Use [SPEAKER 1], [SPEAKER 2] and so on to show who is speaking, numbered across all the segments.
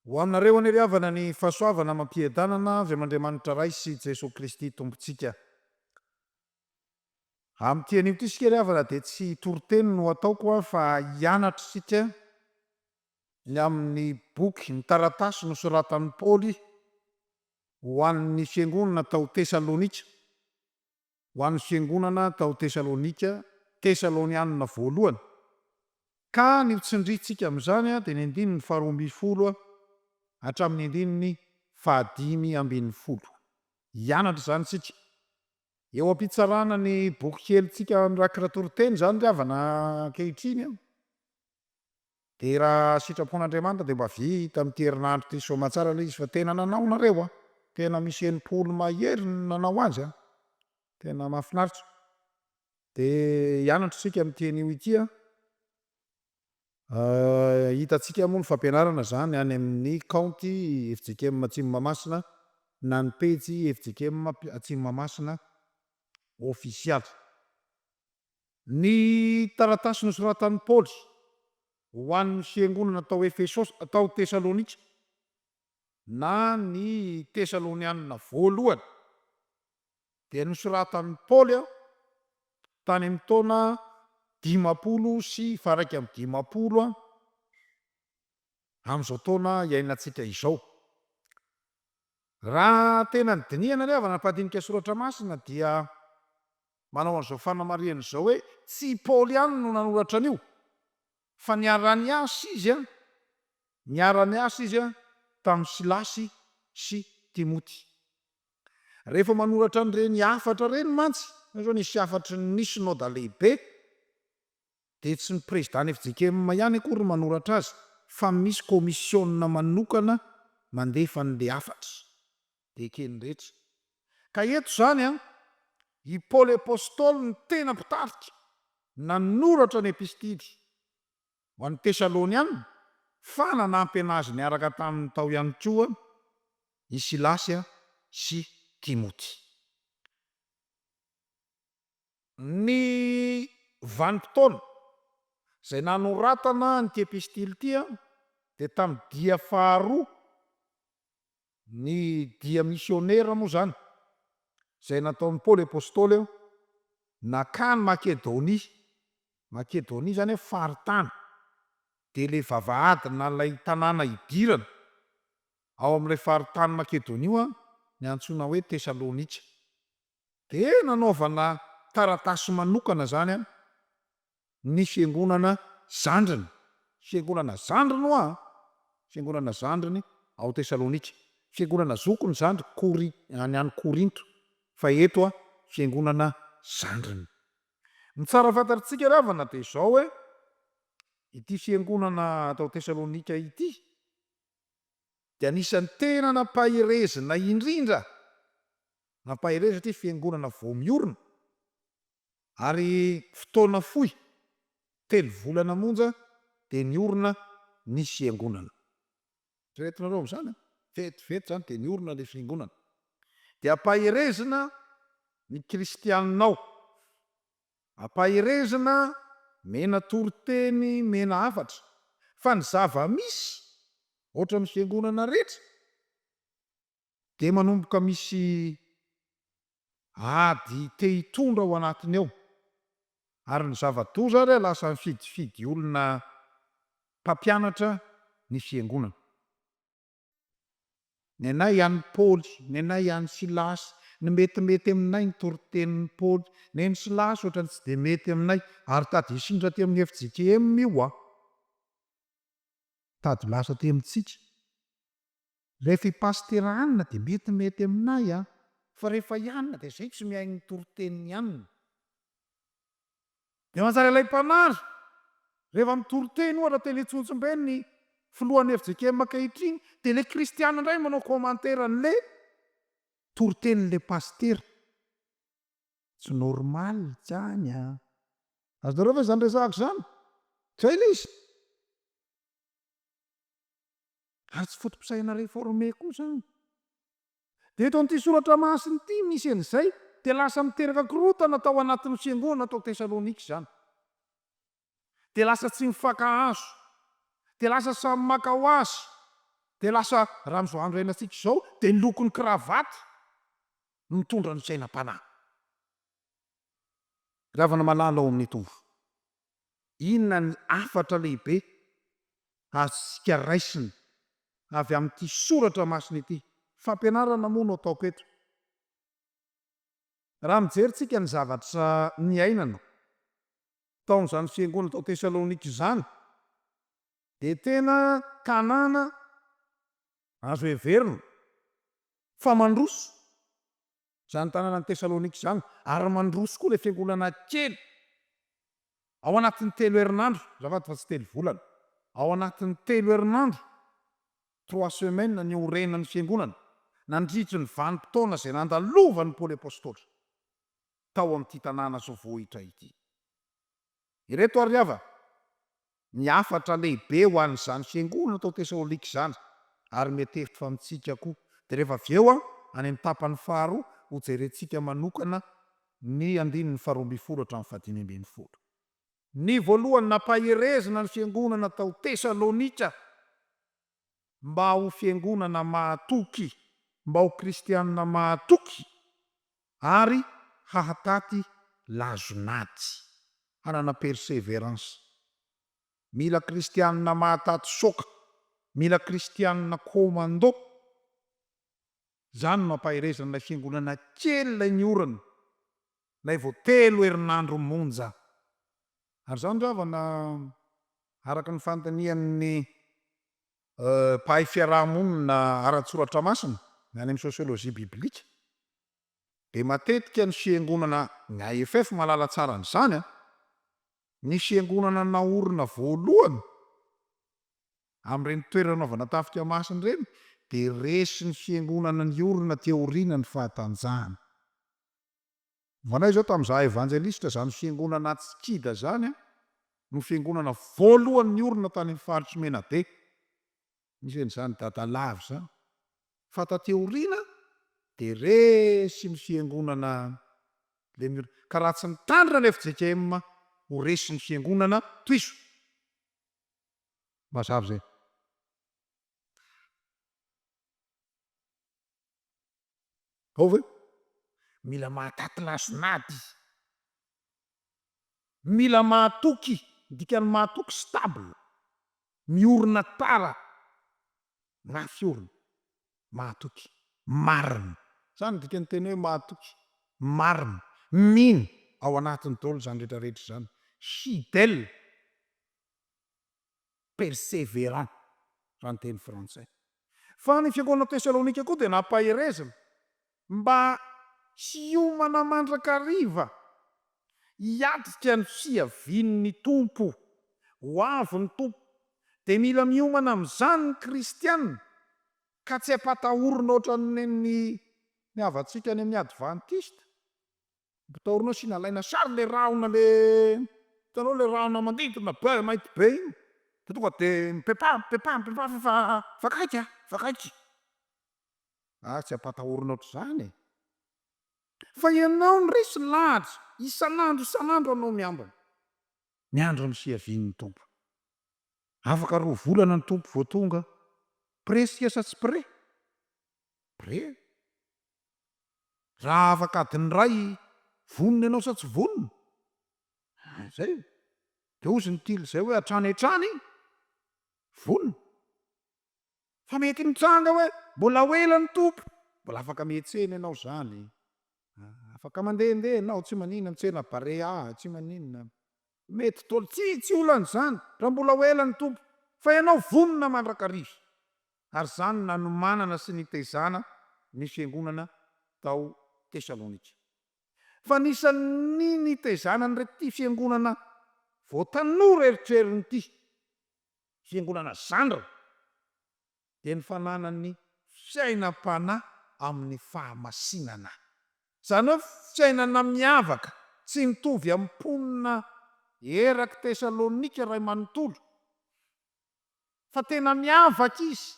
[SPEAKER 1] Ho aminareo anie ry havana ny fahasoavana amam-piadanana avy am'Andriamanitra Ray sy Jesoa Kristy Tompontsika. Amin'ity anio ity isika ry havana dia tsy toriteny no ataoko aho fa hianatra isika ny amin'ny boky, ny taratasy nosoratan'i Paoly Ho an'ny fiangonana tao Tesalonika, Ho an'ny fiangonana tao Tesalonika, Tesalonianina Voalohany, Ka ny ho tsindrintsika amin'izany dia ny andininy faharoa ambin'ny folo hatramin'ny andininy fahadimy ambin'ny folo. Hianatra izany isika. Eo am-pitsarana ny boky kelintsika mirakitra toriteny izany ry havana ankehitriny. Dia raha sitrapon'Andriamanitra dia mba vita amin'ity herinandro ity soamatsara ilay izy fa tena nanao nareo an! Tena misy enimpolo mahery ny nanao azy an! Tena mahafinaritra. Dia hianatra isika amin'ity anio ity an! Hitantsika moa ny fampianarana izany any amin'ny kaonty fjkm Atsimo Mahamasina na ny pejy fjkm Atsimo Mahamasina ofisialy. Ny taratasy nosoratan'i Paoly ho an'ny fiangonana tao Efesosy, tao Tesalonika, na ny Tesalonianina Voalohany, dia nosoratan'i Paoly tany amin'ny taona dimampolo sy faharaika amby dimampolo amin'izao taona iainantsika izao. Raha tena nidinihana anie havana mpandinika soratra masina dia. Manao an'izao fanamarihana izao hoe, Tsy i Paoly ihany no nanoratra an'io, fa niara-niasa izy niara-niasa izy tamin'i Silasy sy Timoty. Rehefa manoratra an'ireny hafatra ireny mantsy, hoy izao nisy hafatry ny Synoda Lehibe, dia tsy ny prezidàn'ny fjkm ihany akory no manoratra azy, fa misy kaomisiona manokana mandefa an'ilay hafatra. eken'ny rehetra. Ka eto izany i Paoly Apostoly no tena mpitarika nanoratra ny epistily ho an'ny Tesaloniana fa nanampy an'azy niaraka taminy tao ihany koa i Silasy sy Timoty. Ny vanim-potoana izay nanoratana an'ity epistily ity dia tamin'ny dia faharoa Ny dia misionera moa izany, izay nataon'i Paoly Apostoly eo, nankany Makedonia, Makedonia izany hoe faritany, dia ilay vavahady na ilay tanàna hidirana ao amin'ilay faritany Makedonia io no antsoina hoe Tesalonika. Dia nanaovana taratasy manokana izany Ny fiangonana zandriny. Fiangonana zandriny hoa, fiangonana zandriny ao Tesalonika. Fiangonana zokiny zandry Kori, any any Korinto, fa eto hoa fiangonana zandriny. Ny tsara fantatritsika ravana dia izao hoe, ity fiangonana tao Tesalonika ity dia anisan'ny tena nampaherezina indrindra, nampaherezina satria fiangonana vao miorina, Ary fotoana fohy, telo volana monja, dia niorina ny Fiangonana. Eritrereto nareo amin'izany an! Vetivety izany dia niorina ilay Fiangonana. Dia ampaherezina ny Kristianina ao. Ampaherezina, mena toriteny, mena hafatra. Fa ny zava-misy, ohatran'ny Fiangonana rehetra, Dia manomboka misy ady te hitondra ao anatiny ao, ary ny zava-doza ary lasa mifidifidy olona mpampianatra ny fiangonana. Nenay an'i Paoly, nenay an'i Silasy, ny metimety aminay ny toritenin'i Paoly, nen'i Silasy ohatrany tsy dia mety aminay, ary tady hisindra aty amin'ny fjkm io an! Tady lasa aty amintsika. Rehefa i Pasitera hanina dia mety mety aminay an! Fa rehefa i Anna dia izay tsy mihaino ny toritenin'i Anna. Dia manjary ilay mpanary, rehefa mitoriteny ohatra teny Antsonjombe ny filohan'ny fjkm ankehitriny dia ilay kristiana indray manao commentaire an'ilay toritenin'ilay pasitera. Tsy normal izany an! Azonareo ve izany resahako izany? Izay ilay izy! ary tsy foto-pisainana reforme koa izany. Dia eto amin'ity soratra masina ity misy an'izay, dia lasa miteraka korontana tao anatin'ny fiangonana tao Tesalonika izany. Dia lasa tsy mifankahazo, dia lasa samy maka ho azy, dia lasa raha amin'izao andro iainantsika izao dia ny lokon'ny kravaty no mitondra ny sainam-panahy. Ravana malala ao amin'ny Tompo. Inona ny hafatra lehibe azontsika raisina avy amin'ity soratra masina ity? Fampianarana moa no ataoko eto. Raha mijery tsika ny zavatra niainana tao amin'izany fiangonana tao Tesalonika izany, dia tena tanàna azo heverina fa mandroso Izany tanànan'i Tesalonika izany, ary mandroso koa ilay fiangonana kely. Ao anatin'ny telo herinandro, azafady fa tsy telo volana, ao anatin'ny telo herinandro, trois semaines, niorenan'ny fiangonana, nandritry ny vanim-potoana izay nandalovan'i Paoly Apostoly tao amin'ity tanàna zao voahitra ity. Ireto àry havana ny hafatra lehibe ho an'izany fiangonana tao Tesalônika izany, ary mety hevitro fa amintsika koa. Dia rehefa avy eo, any amin'ny tapany faharoa, hojerentsika manokana ny andininy faharoa ambin'ny folo hatramin'ny fahadimy ambin'ny folo. Ny voalohany, nampaherezana ny fiangonana tao Tesalônika mba ho fiangonana mahatoky, mba ho kristianina mahatoky ary hahataty lazon'ady, hanana perseverance. Mila kristianina mahataty soka, mila kristianina commando. Izany no ampaherezan'ilay fiangonana kely ilay ny orana, ilay vao telo herinandro monja. Ary izany re havana araka ny fanontanian'ny mpahay fiaraha-monina ara-tsoratra masina ny any amin'ny sosiolojia biblika dia matetika ny fiangonana, ny AFF mahalala tsara an'izany an, ny fiangonana naorina voalohany amin'ireny toerananaovana tafika masina ireny dia resin'ny fiangonana niorina teo aoriana ny fahatanjahana. Manao izao tamin'ny za evanjelisitra zany fiangonana Atsikida zany an, no fiangonana voalohany niorina tany amin'ny faritry Menabe, nisy an'izany dada lava izany, fa taty aoriana dia resy ny fiangonana Lemur, ka raha tsy nitandrina ny fjkm ho resy ny fiangonana tohizo. Mazava izay. Ao ve? Mila mahataty lason'ady izy. Mila mahatoky, ny dikan'ny mahatoky stable, miorina tara, mafy orina, mahatoky, marina. Zany ny dikan'ny teny hoe mahatoky, marina. Mino ao anatiny daholo izany rehetra rehetra izany. Fidèle. perseverant raha ny teny frantsay. Fa ny fiangonana Tesalonika koa dia nampaherezina mba tsy hiomana mandrakariva hiatrika ny fiavian'ny Tompo. Ho avy ny Tompo, dia mila miomana amin'izany ny kristiana ka tsy ampatahorina ohatran'ny havantsika any amin'ny advantista. Mpitaorina eo sy nalaina sary le rahona le hitanao le rahona manidina be mainty be iny de tonga de mipepaha mipepaha mipepaha fa efa efa akaiky a efa akaiky ah tsy ampatahorina ohatr'izany e fa ianao no resy lahatra isan'andro isan'andro anao miambina miandry ny fiavian'ny Tompo afaka roa volana ny Tompo vao tonga près tsika sa tsy près? Près. Raha afaka adiny iray vonona ianao sa tsy vonona, ah zay, de hozy ny tily zay hoe hatrany hatrany vonona. Fa mety mitranga hoe mbola ho ela ny Tompo, mbola afaka mihetsena ianao zany, ah afaka mandehandeha ianao tsy maninona, mitsena barea, tsy maninona, Mety dolo tsy tsy olana izany raha mbola ho ela ny Tompo fa ianao vonona mandrakariva ary izany nanomanana sy nitezana ny fiangonana tao Tesalonika fa anisan'ny nitezana an'irety fiangonana vao tanora eritreriny ity fiangonana zandriny dia ny fananany fiainam-panahy amin'ny fahamasinana, izany hoe fiainana miavaka tsy mitovy amin'ny mponina erak'i Tesalonika iray manontolo, fa tena miavaka izy,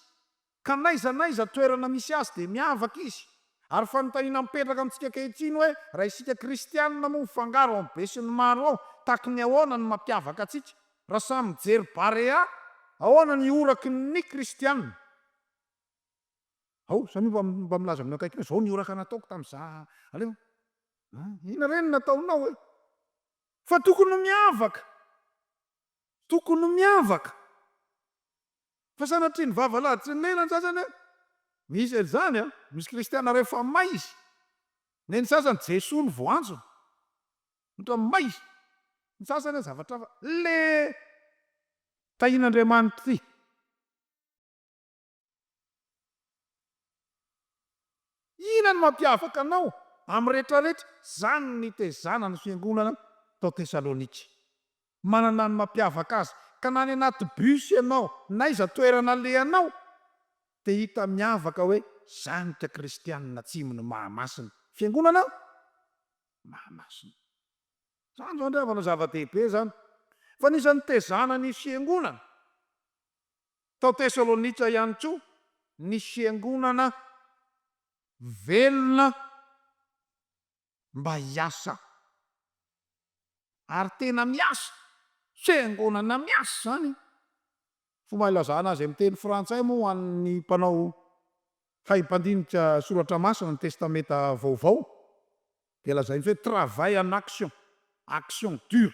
[SPEAKER 1] ka n'aiza n'aiza toerana misy azy dia miavaka izy, ary fanontaniana mipetraka amintsika ankehitriny hoe, raha isika kristianina moa mifangaro amin'ny besinimaro ao, takin'ny ahoana ny mampiavaka antsika? Raha samy mijery Barea, ahoana ny horaky ny Kristiana? Ao, samia mba mba milaza amin'ny akaikinao, izao ny horaka nataoko tamin'i za, aleo, a, inona re ny nataonao e? Fa tokony ho miavaka, tokony ho miavaka, fa sanatria ny vava laditry ny lela ny sasany e, misy an'izany a, misy Kristiana rehefa may izy, nen'ny sasany Jesoa no voanjony, Otrany may ny sasany a zavatra hafa le tahin'Andriamanitra ty. Inona no mampiavaka anao amin'ny rehetra rehetra zany ny nitezana ny fiangonana tao Thesalonika. Manana ny mampiavaka azy ka na any anaty bus ianao n'aiza toerana alehanao de hita miavaka hoe zany ka kristianina atsimo ny mahamasina fiangonana Mahamasina. Izany izany ry havana zava-dehibe izany. Fa anisan'ny nitezana ny fiangonana tao Tesalonika ihany koa ny fiangonana velona mba hiasa. Ary tena miasa, fiangonana miasa izany. Fomba ilazana azy amin'ny teny frantsay moa ho an'ny mpanao hay mpandinika Soratra Masina ny Testamenta Vaovao dia lazain'izy hoe travail en action, action dure.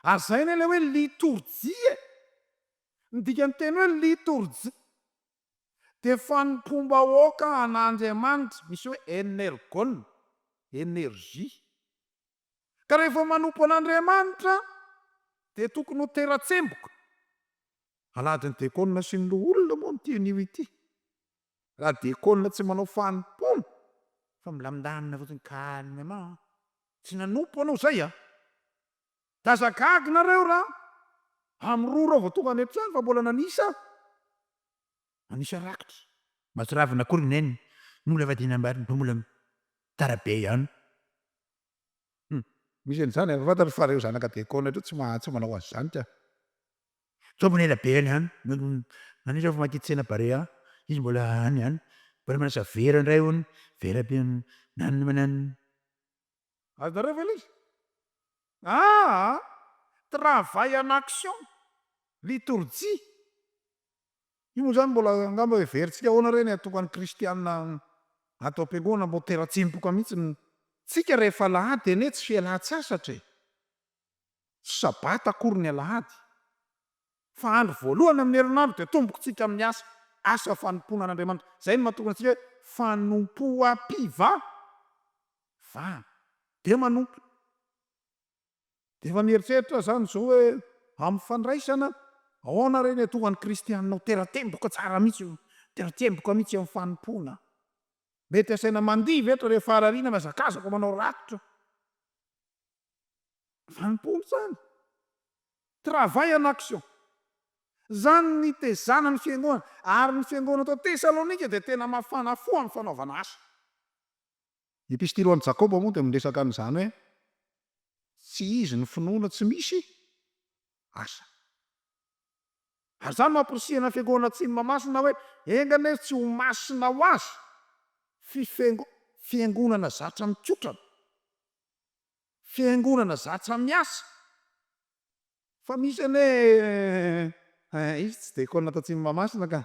[SPEAKER 1] Ary izay anie ilay hoe litorjia e! Ny dikan'ny teny hoe litorjia dia fanompoam-bahoaka an'Andriamanitra, misy hoe energon, energie. Ka rehefa manompo an'Andriamanitra dia tokony ho tera-tsemboka. Aladin'ny dekona sy ny loholona moa ny tian'io ity. Raha dekona tsy manao fanompoana fa milamindamina fotsiny calmement, tsy nanompo anao zay a! Dia aza gaga nareo raha amin'ny roa ireo vao tonga any an-trano fa mbola nanisa aho. Anisa rakitra. Mahatsiravina akory Neny no mbola vadiana ambany no mbola mitara be ihany. Hum. Misy an'izany efa fantatra fa reo zanaka Décon reo tsy maha tsy manao an'zany ka. Zao mbola ela be any ihany Anisa efa mankiditra tsena Barea izy mbola any ihany mbola manasa vera indray hono vera be nanina mananina. Azonareo ve ilay izy? Aa! Travail en action! Liturgie! Io moa izany mbola angamba heverintsika ahoana re ny hatoka ny kristiana ato am-piangonana, mbo tera-tsempoka mihitsy ny tsika rehefa alahady anie tsy fialan-tsasatra e! tsy sabata akory ny alahady fa andro voalohany amin'ny herinandro dia tombokintsika amin'ny asa, asa fanompoana an'Andriamanitra, izay no mahatokana antsika hoe fanompoam-pivavahana, dia manompo. Dia efa mieritreritra aho izany izao hoe amin'ny fandraisana ahoana re ny atohan'ny kristianina ho tera-temboka tsara mihitsy, ho tera-temboka mihitsy amin'ny fanompoana. Mety asaina mandihy ve eto rehefa arariana ny hazakazaka manao rakotra? Fanompoana izany. Travail en action. Izany ny tezana ny fiangoana. Ary ny fiangoana tao Tesalonika dia tena mafana fo amin'ny fanaovana asa. Ny epistily ho an'i Jakoba moa dia miresaka an'izany hoe tsy izy ny finoana tsy misy asa. Ary izany no amporisihina ny Fiangonana Atsimo Mahamasina hoe, Enga anie tsy ho masina ho azy fifiango, fiangonana zatra mikotrana, fiangonana zatra miasa. Fa misy anie eh, izy tsy dia kôna tatsimo Mahamasina ka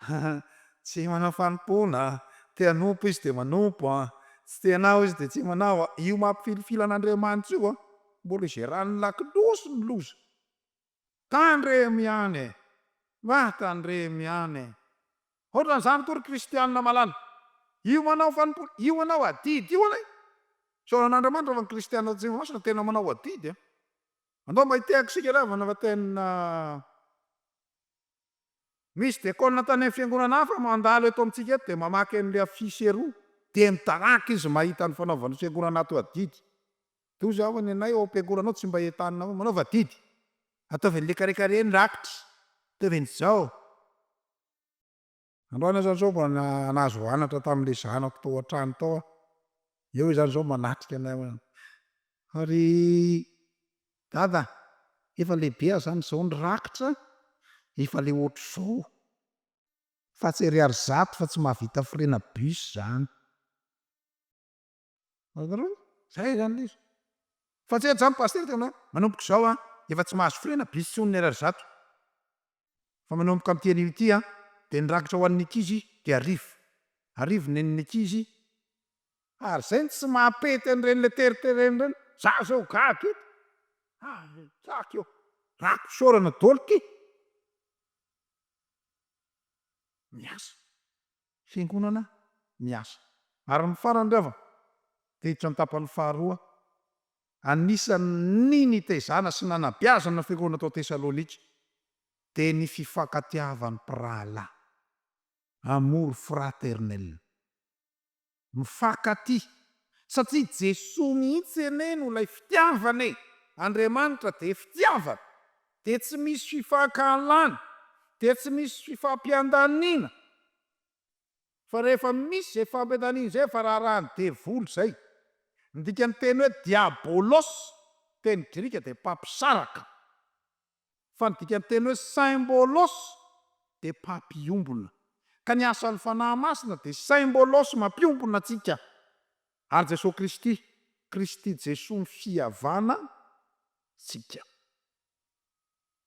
[SPEAKER 1] ah, tsy manao fanompoana, te hanompo izy dia manompo ah, tsy te hanao izy dia tsy manao ah, io mampifilifily an'Andriamanitra io ah, mbola izeran'ny lakolosy ny loza. Tandremo ihany eh, ah tandremo ihany eh. Hotran'izany koa ry kristianina malala, io manao fanompoana, io manao adidy io anie, isaoran'Andriamanitra fa ny kristianina tatsimo Mahamasina tena manao adidy ah, Andao mba hitehaka isika ialahy vao nava-tena. Misy diakona tany amin'ny fiangonana hafa mandalo eto amintsika eto dia mamaky an'ilay affiche eroa, dia midaraka izy mahita ny fanaovan'ny fiangonana ato adidy. Dia hoy izy, Aho, ny anay ao am-piangonana ao tsy mba entanina hoe manaova adidy. Ataovy an'i lekaleka ireny rakitra. Ataovy an'izao. Androany aza zao vao nahazo anatra tamin'ilay zanako tao an-trano tao aho. Eo izany izao manatrika anay hoe, fa ry Dada efa lehibe aza zany izao ny rakitra efa le ohatr'izao. Fa tsy ariary zato fa tsy mahavita frais-na bus zany. Hitanareo? Zay zany izy. Fa tsy ela zany Pasitera tena manomboka izao an, efa tsy mahazo firiana bus intsony ny RR zato. Fa manomboka amin'ity anio ity an, dia ny rakitra ho an'ny ankizy dia arivo. Arivo ny nen'ny ankizy. Ary izay no tsy mampety an'ireny le teriterena ireny. Za zao gaga eto. Hay gaga eo. Rako isaorana daholo ty. Miasa. fiangonana miasa. Ary ny farany ry havana, diditra ny tapany faharoa, anisan' ny nitezana sy nanabeazana ny fiangonana tao Tesalônika, dia ny fifankatiavan' ny mpirahalahy, amour fraternel, mifankatia, satria Jesoa mihitsy anie no ilay fitiavana e! Andriamanitra dia fitiavana, dia tsy misy fifankahalana, dia tsy misy fifampiandaniana, fa rehefa misy izay fifampiandaniana izay efa raharahan'ny devoly izay. Ny dikan'ny teny hoe diabolos, teny grika dia mpampisaraka, fa ny dikan'ny teny hoe symbolos dia mpampiombona, ka ny asan'ny Fanahy Masina dia symbolos mampiombona antsika. Ary Jesoa Kristy, Kristy Jesoa ny fihavana tsika.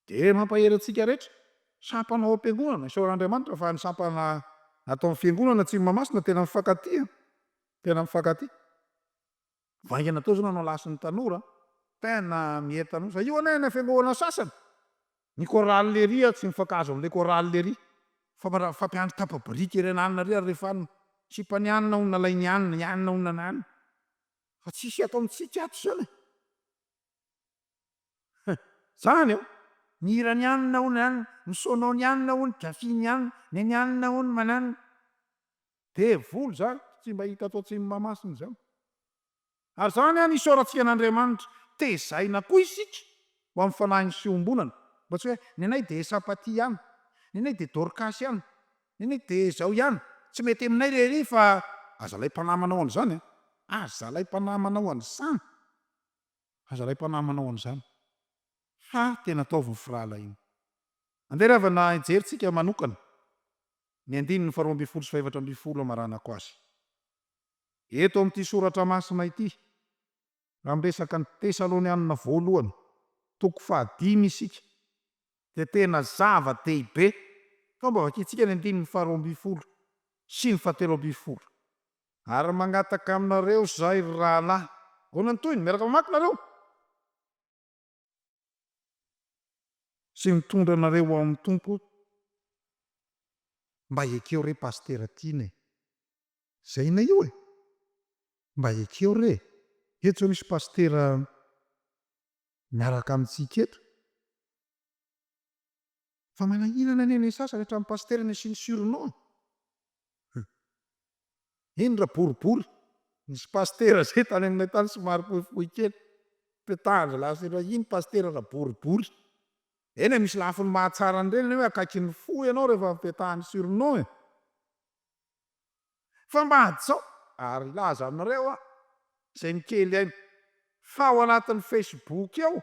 [SPEAKER 1] Dia mampahery antsika rehetra. Sampana ao am-piangonana. Isaoran'Andriamanitra fa ny sampana ato amin'ny Fiangonana Tsimo Mahamasina tena mifankatia. Tena mifankatia. Vaingana toa izao nanao lasy ny tanora. Tena mihery tanora. Fa io anie any amin'ny fiangonana sasany. Ny chorale lery aho tsy mifankahazo amin'ilay chorale lery fa raha fampiandry tapa-biriky ery an'anona ery ary rehefa anona sipan'i anona ho nalain'i anona i anona ho nananona fa tsisy ataontsika ato izany e! He! Zany eo! Ny hiran'i anona hono an! Ny sonoan'i anona hono, gafin'i anona, ny an'i anona hono mananona. Devoly zany, tsy mba hita ato Atsimo Mahamasina izany. Ary izany an isaorantsika an'Andriamanitra. Tezaina koa isika ho amin'ny fanahin'ny fiombonana. Mba tsy hoe, ny anay dia Esapaty ihany, ny anay dia Dorcas ihany, ny anay dia izao ihany. Tsy mety aminay re ery fa aza alay mpanama anao an'izany an! Aza alay mpanama anao an'izany! Aza alay mpanama anao an'izany! Fa tena ataovy ny firahalahiana. Andeha ry havana hijery tsika manokana ny andininy faharoa ambin'ny folo sy fahefatra ambin'ny folo hamaranako azy. Eto amin'ity soratra masina ity, raha miresaka ny Tesalonianina Voalohany, toko fahadimy isika, dia tena zava-dehibe, toa mba vakintsika ny andininy faharoa ambin'ny folo sy ny fahatelo ambin'ny folo. Ary mangataka aminareo izahay, ry rahalahy. Ahoana ny tohiny? Miaraka mamaky nareo. Tsy mitondra anareo ho amin'ny Tompo aho. Mba ekeo re Pasitera Tiana e! Zay na io e! Mba ekeo re e! Eto misy Pasitera miaraka amintsika eto. Fa manahirana anie ny sasany hatramin'ny pasitera ny asiany surnom e! Eny ra boribory nisy pasitera zay tany aminay tany somary fohifohy kely teo tahan'ny lasa iray iny pasitera ra boribory eny e! Misy lafiny mahatsara an'ireny ny hoe akaikin'ny fo ianao rehefa avy petahany surnom e! Fa mba hajao ary hilaza aminareo aho izay ny kely haiko, fa ao anatin'ny Facebook ao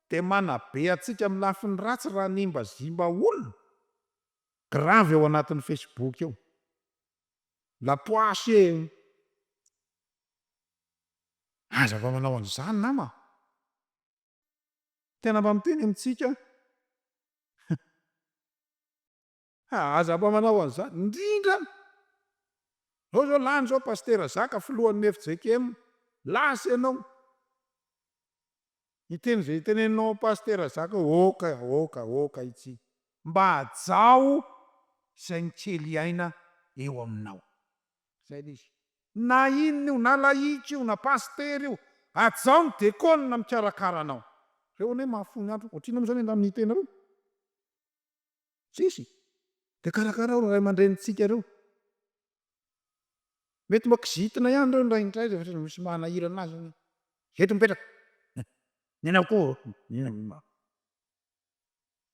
[SPEAKER 1] dia manabe antsika amin'ny lafiny ratsy raha hanimbazimba olona, grave ao anatin'ny Facebook ao. La poisse e! Aza mba manao an'izany nama a! Tena mba miteny amintsika aho. Ha aza mba manao an'izany indrindra an! Zao zao lany zao Pasitera Zaka filohan'ny fjkm, lasa ianao. Hiteny izay hiteneninao an'i Pasitera Zaka eo, aoka, aoka, aoka itsy. Mba hajao izay ny kely aina eo aminao. Izay le izy. Na inona io, na lahiky io, na Pasitera io, hajao ny dekôna mikarakara anao. Reo anie mahafoy ny andro, ohatrinona moa zany angamba ny hitenareo? Tsisy. Dia karakarao ireo ray aman-drenintsika ireo. Mety mba kizitina ihany ireo indraindray rehefa misy manahirana azy hoe, eto mipetraka. Ny anao koa.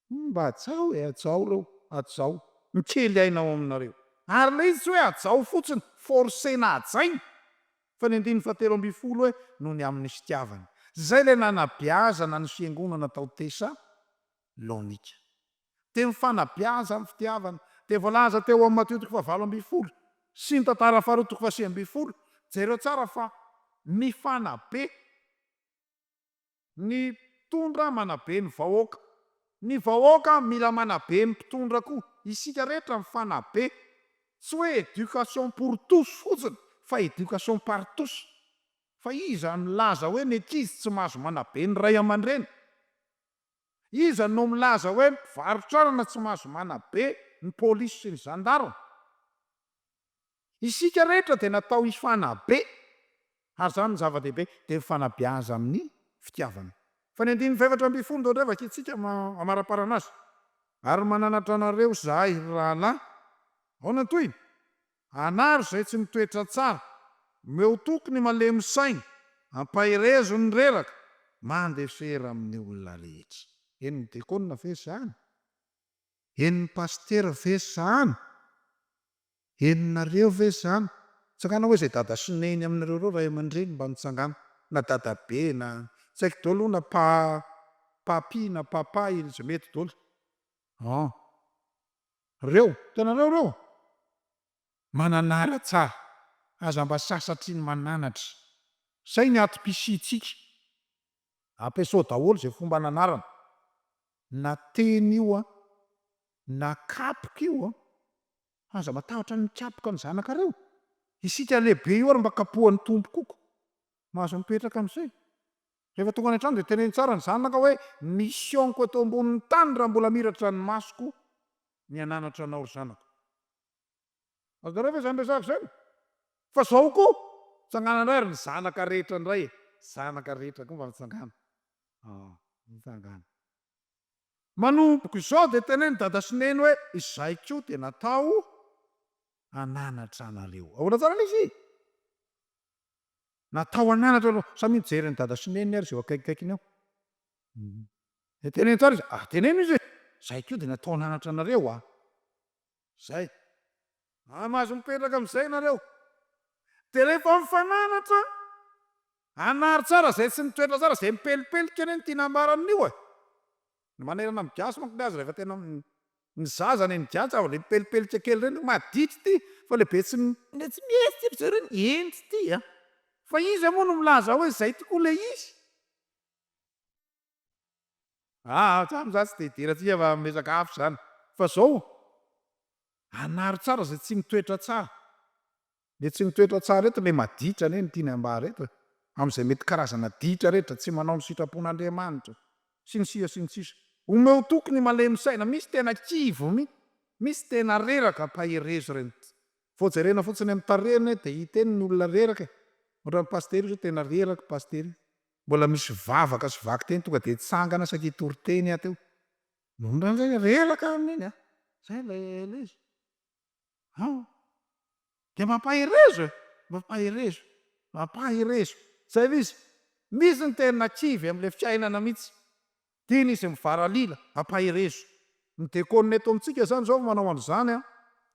[SPEAKER 1] Mba hajao e, hajao ireo, hajao. Mikely aina ao aminareo. Ary ilay izy tsy hoe hajao fotsiny, forcer-na hajaina, fa ny andininy fahatelo ambin'ny folo hoe noho ny amin'ny fitiavany. Izay ilay nanabeazana ny fiangonana tao Tesa, Laonika. Dia ny fanabeazan' ny fitiavana. Dia voalaza teo amin'ny Matio toko fahvalo ambin'ny folo sy ny Tantara faharoa toko fahasivy ambin'ny folo, jereo tsara fa ny fanabe, ny mpitondra manabe ny vahoaka, ny vahoaka mila manabe ny mpitondra koa, isika rehetra mifanabe, tsy hoe éducation pour tous fotsiny fa éducation par tous, fa iza no nilaza hoe ny ankizy tsy mahazo manabe ny ray aman-dreny? Iza no milaza hoe mpivarotra anana tsy mahazo manabe ny polisy sy ny zandarme? Isika rehetra dia natao hifanabe ary izany no zava-dehibe dia ny fanabeaza amin'ny fitiavana. Fa ny andininy fahefatra ambin'ny folo dia ohatray vakintsika amaraparana azy. Ary mananatra anareo izahay, ry rahalahy. Ahoana ny tohiny? Anaro izay tsy mitoetra tsara. Omeo toky ny malemy saina. Ampaherezo ny reraka. Mandefera amin'ny olona rehetra. Henon'ny dekôna ve izany? Henon'ny pasitera ve izany? Henonareo ve izany? Tsangana hoe izay dada sy neny aminareo ireo ray aman-dreny mba mitsangana, na dadabe na tsy haiko dôly hono na pa, papy na papa, iny izay mety dôly. An. Reo, hitanareo reo? Mananara tsara, aza mba sasatry ny mananatra. Zay ny atom-pisiantsika. Ampiasao daholo zay fomba ananarana, na teny io an, na kapoka io an, aza matahotra ny mikapoka ny zanakareo. Isika lehibe io ary mba kapohan'ny Tompo koko. Mahazo mipetraka amizay. Rehefa tonga any an-trano dia teneno tsara ny zanaka hoe, Ny mission-ko eto ambonin'ny tany raha mbola miratra ny masoko ny hananatra anao ry zanako. Azonareo ve izany resaka izany? Fa izao koa, tsangana indray ary ny zanaka rehetra indray e! Zanaka rehetra koa mba mitsangana. Ah, mitsangana. Manomboka izao dia teneno dada sy neny hoe, Izahay koa dia natao hananatra anareo. Ahoana tsara ilay izy? Natao an'anatra aloha. Sa mijery an'i dada sy neny ary izay eo akaikikaikiny eo? Dia teneno tsara izy, ah teneno izy hoe, Izay koa dia natao an'anatra anareo an! Izay. Ary mahazo mipetraka amin'izay ianareo. Dia rehefa mifananatra, hanary tsara izay tsy mitoetra tsara, izay mipelipelika anie no tiana hambarany io e! Ny manerana ny gasy manko le azy rehefa tena ny zaza any ny gasy zava mipelipelika kely reny madity ty fa le be tsy le tsy mihetsy ty ry zareo ny hendry ty a! Fa iza moa no milaza hoe zay tokoa le izy? Aa za za tsy de hidera atsika fa miresaka hafa zany fa zao anaro tsara zay tsy mitoetra tsara Dia tsy mitoetra tsara eto ilay maditra anie no tiany hambara eto e. Amin'izay mety karazana ditra rehetra, tsy manao ny sitrapon'Andriamanitra. Sy ny sisa sy ny sisa. Omeo toky ny malemy saina, misy tena kivy mi, misy tena reraka ampaherezo ireny. Vao jerena fotsiny amin'ny tarehiny dia hita eny ny olona reraka e. Ohatran'ny pasitera io zao tena reraka io pasitera io. Mbola misy vavaka sy vaky teny tonga dia hitsangana saika hitory teny aho teo. Nony rangahy reraka amin'iny a! Zay ilay izy. an! Dia mampaherezo e! Mampaherezo! Mampaherezo! Zay ilay izy! Misy ny tena kivy amin'ilay fiainana mihitsy. Dia ny izy mivaralila, mampaherezo. Ny dekôna eto amintsika izany izao manao an'izany an!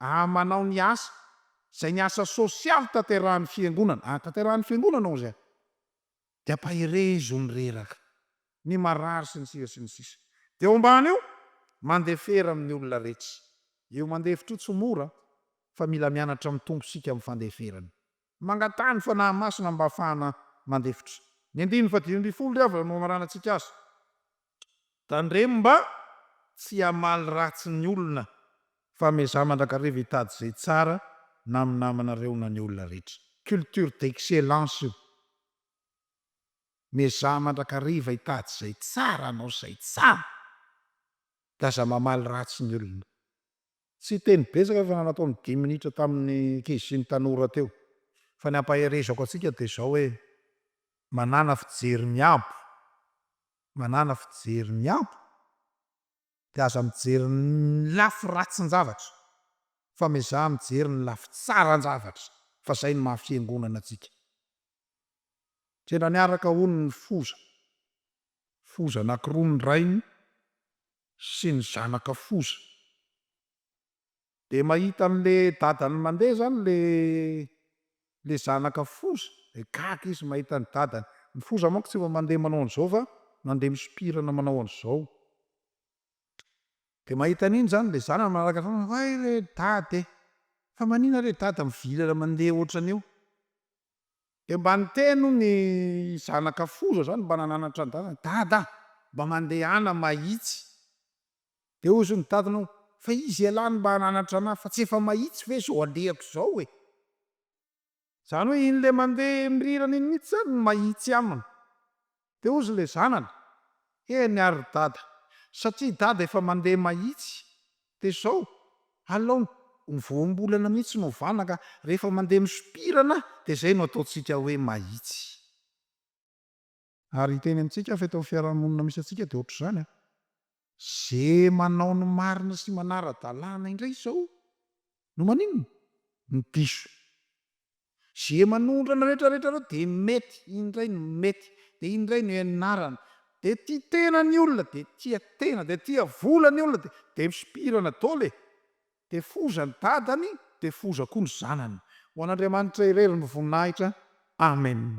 [SPEAKER 1] An! Manao ny asa, izay ny asa sôsialy tanterahan'ny Fiangonana. An! Tanterahan'ny Fiangonana hozy an! Dia ampaherezo ny reraka, ny marary sy ny sisa sy ny sisa. Dia eo ambany eo, mandefera amin'ny olona retsy. Io mandefitra io tsy mora fa mila mianatra amin'ny Tompo isika amin'ny fandeferana. Mangataha ny Fanahy Masina mba hafahana mandefitra. Ny andininy fahadimy ambin'ny folo ry havana no hamaranantsika azy. Tandremo mba tsy hamaly ratsy ny olona fa miezaha mandrakariva hitady izay tsara na amin'ny namanareo na ny olona rehetra. Culture d'excellence io. Miezaha mandrakariva hitady izay tsara hanao izay tsara dia aza mamaly ratsy ny olona. Tsy hiteny betsaka fa nanatao ny dimy minitra tamin'ny ankizy sy ny tanora teo. Fa ny hampaherezako antsika dia izao hoe manàna fijery miabo manàna fijery miabo dia aza mijery ny lafy ratsin-javatra fa miezaha mijery ny lafy tsaran-javatra fa izay no maha fiangonana antsika. Tena niaraka hono ny foza, foza anankiroa ny rainy sy ny zanaka foza. Dia mahita an le dadany mandeha zany le le zanaka foza dia gaga izy mahita ny dadany. Ny foza manko tsy mba mandeha manao an zao fa mandeha misompirana manao an zao. Dia mahita an iny zany le zanany manaraka foana hoe hay re dada e! Fa manina re dada mivilana mandeha otran io? Dia mba niteny hono ny zanaka foza zany mba nananatra ny dadany, dada a! mba mandehana mahitsy. Dia hozy ny dadanao, fa izy ialahy no mba hananatra anah, fa tsy efa mahitsy ve izao alehako izao e! Izany hoe iny ilay mandeha mirirana iny mihitsy izany no mahitsy aminy. Dia hozy ilay zanany, eny ary ry dada, satria i dada efa mandeha mahitsy, dia izao, alao ny voambolana mihitsy no hovana ka, rehefa mandeha misompirana dia izay no ataontsika hoe mahitsy. Ary hiteny amintsika fa eto amin'ny fiarahamonina misy antsika dia ohatr'izany an! Ze manao ny marina sy manara-dalàna indray izao no maninona? Ny diso. Ze manondrana retraretra ireo dia mety, iny indray no mety, dia iny indray no ianarana. Dia tia tena ny olona, dia tia tena, dia tia vola ny olona, dia dia misopirana dol e! Dia foza ny dadany, dia foza koa ny zanany. Ho an'Andriamanitra irery ny voninahitra. Amen.